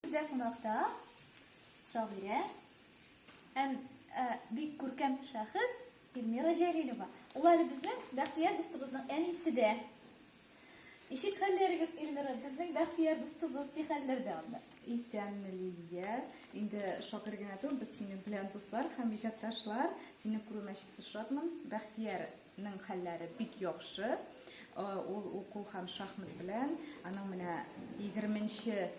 Бездә кунакта шагыйрә һәм э, бик күркәм шәхес Эльмира Җәлилова. Ул әле безнең Бәхтияр дустыбызның әнисе дә. Ничек хәлләрегез, Эльмира? Безнең Бәхтияр дустыбыз ни хәлләрдә анда? Исәнме, Лилия. Инде шагыйрь генә түгел, без синең белән дуслар һәм иҗатташлар. Сине күрүемә чиксез шатмын. Бәхтияр Ның хәлләре бик яхшы. Ул уку һәм шахмат белән. Аның менә 20 нче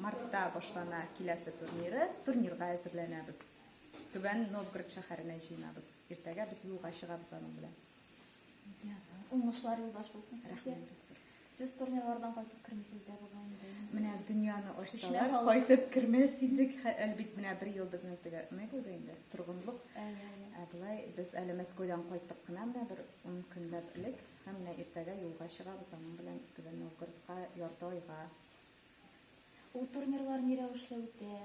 мартта башлана киләсе турниры. Турнирга әзерләнәбез. Түбән Новгород шәһәренә җыенабыз. Иртәгә без юлга чыгабыз аның белән. Уңышлар юлдаш булсын сезгә. Рәхмәт. Сез турнирлардан кайтып кермисез дә бугай инде. Менә дөньяны ачсалар, кайтып кермәс идек. Әлбит менә бер ел безнең теге ни булды инде, торгынлык. Ә болай без әле Мәскәүдән кайттык кына менә бер 10 көнләп элек һәм менә иртәгә юлга чыгабыз аның белән Түбән Новгородка ярты айга. Ул турнирлар ни рәвешле үтә?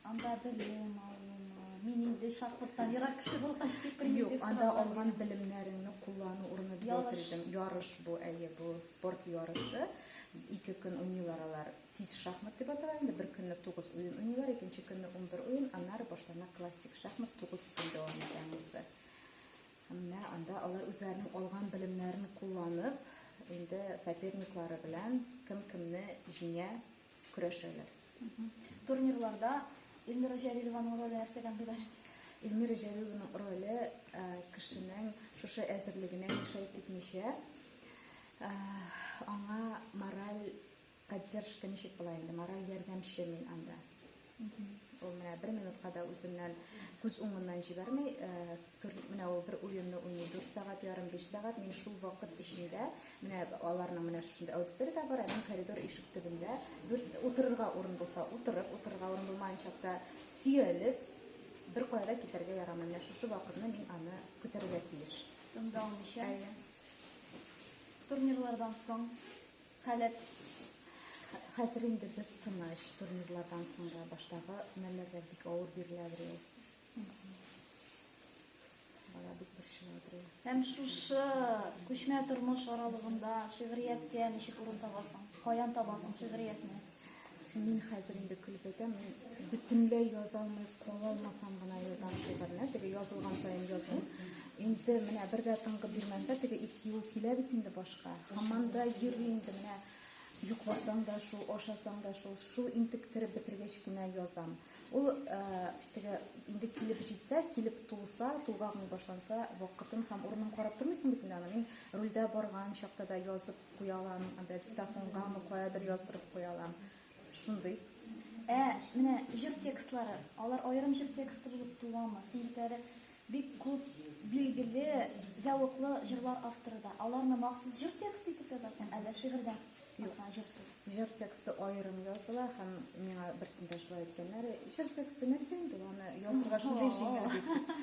Анда белем алынмы? Мин инде шахматтан ерак кеше булгач, бик примитив Юк, анда алган белемнәреңне куллану урыны дип әйтелдем. Ярыш бу, әйе, бу спорт ярышы. Ике көн уйныйлар алар. Тиз шахмат дип атала инде. Бер көнне 9 уен уйныйлар, икенче көнне 11 уен, аннары башлана классик шахмат 9 көн дәвам итә Әмма анда алар үзләренең алган белемнәрен кулланып, инде соперниклары белән кем кемне җиңә көрәшәләр. Турнирларда Эльмира Җәлилованың роле нәрсәдән гыйбарәт? Эльмира Җәлилованың роле э, кешенең шушы әзерлегенә мешәй типмичә, э, аңа мораль Поддержка ничек була инде, мораль ярдәмче мин анда. Ул менә бер минутка да үзеннән күз уңыннан җибәрми. Менә ул бер уенны уйный, 4 сәгать ярым, 5 сәгать. Мин шул вакыт эчендә, менә аларның менә шушында аудитория дә бар, ә мин коридор ишек төбендә, утырырга урын булса, утырып, утырырга урын булмаганча да сөялеп, бер кая да китәргә ярамый. Менә шушы вакытны мин аны көтәргә тиеш. Тыңда алмыйча. Әйе. Турнирлардан соң Халәп хәзер инде без тыныч турнирлардан соң да баштагы мәлләрдә бик авыр биреләдер ул. Бала бик борчыладыр ул. Һәм шушы күчмә тормыш аралыгында шигърияткә ничек урын табасың? Каян табасың шигъриятне? Мин хәзер инде көлеп әйтәм, мин бөтенләй яза алмый кала алмасам гына язам шигырьне, теге язылган саен язмыйм. Инде менә бер дә тынгы бирмәсә, теге ике юл килә бит инде башка. Һаман да йөри инде менә йокласаң да шул, ашасаң да шул, шул интектереп бетергәч кенә язам. Ул ә, теге инде килеп җитсә, килеп тулса, тулгагың башланса, вакытын һәм урынын карап тормыйсың бит инде аны. Мин рульдә барган чакта да язып куялам, анда диктофонгамы каядыр яздырып куялам. Шундый. Ә менә җыр текстлары, алар аерым җыр тексты булып туамы? Синекләре бик күп билгеле, зәвыклы җырлар авторы да. Аларны махсус җыр тексты итеп язасың, әллә шигырьдә? Юк, җыр тексты. Җыр тексты аерым языла һәм миңа берсендә шулай әйткәннәр, җыр тексты нәрсә инде, аны язырга шундый җиңел дип.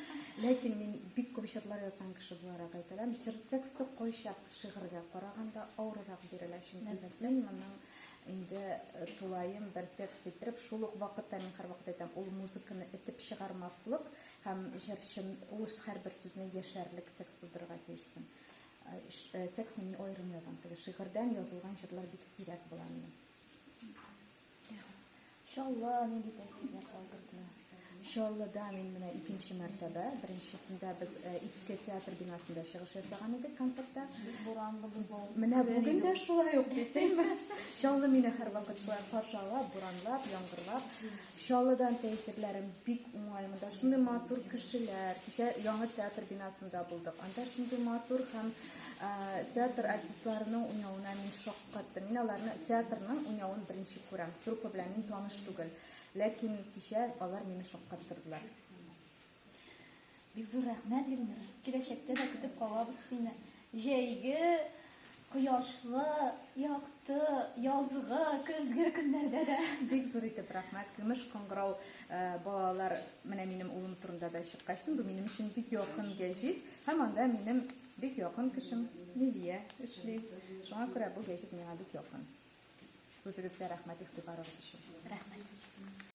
Ләкин мин бик күп җырлар язган кеше буларак әйтәләм, җыр тексты кайчак шигырьгә караганда авыррак бирелә, чөнки мин моның инде э, тулаем бер текст иттереп, шул ук вакытта мин һәрвакыт әйтәм, ул музыканы этеп чыгармаслык һәм җырчын ул һәрбер сүзне яшәрлек текст булдырырга тиешсең. Э, э, текстны мин аерым язам, теге шигырьдән язылган җырлар бик сирәк була минем. Чаллы, нинди тәэсирләр калдырды? Чаллыда мин менә икенче мәртәбә, беренчесендә без э, иске театр бинасында чыгыш ясаган идек концертта. Буранлы бозау. Менә бүген дә шулай ук бит, әйме? Чаллы мине һәрвакыт шулай каршы ала, буранлап, яңгырлап. Чаллыдан тәэсирләрем бик уңай. Монда шундый матур кешеләр. Кичә яңа театр бинасында булдык. Анда шундый матур һәм э, театр артистларының уйнавына мин шок Катты. Мин аларны театрның уйнавын беренче күрәм. Труппа белән мин таныш түгел. Ләкин кичә алар мине шаккаттырдылар. Бик зур рәхмәт, Ильмир. Киләчәктә дә көтеп калабыз сине. Җәйге, кояшлы, якты, язгы, көзге көннәрдә дә. Бик зур итеп рәхмәт. Көмеш кыңгырау э, балалар, менә минем улым турында да чыккачтын, бу минем өчен бик якын гәҗит. Һәм анда минем Бик якын кешем Лилия эшли. Шуңа күрә бу гәҗит миңа бик якын. Үзегезгә рәхмәт игътибарыгыз өчен. Рәхмәт.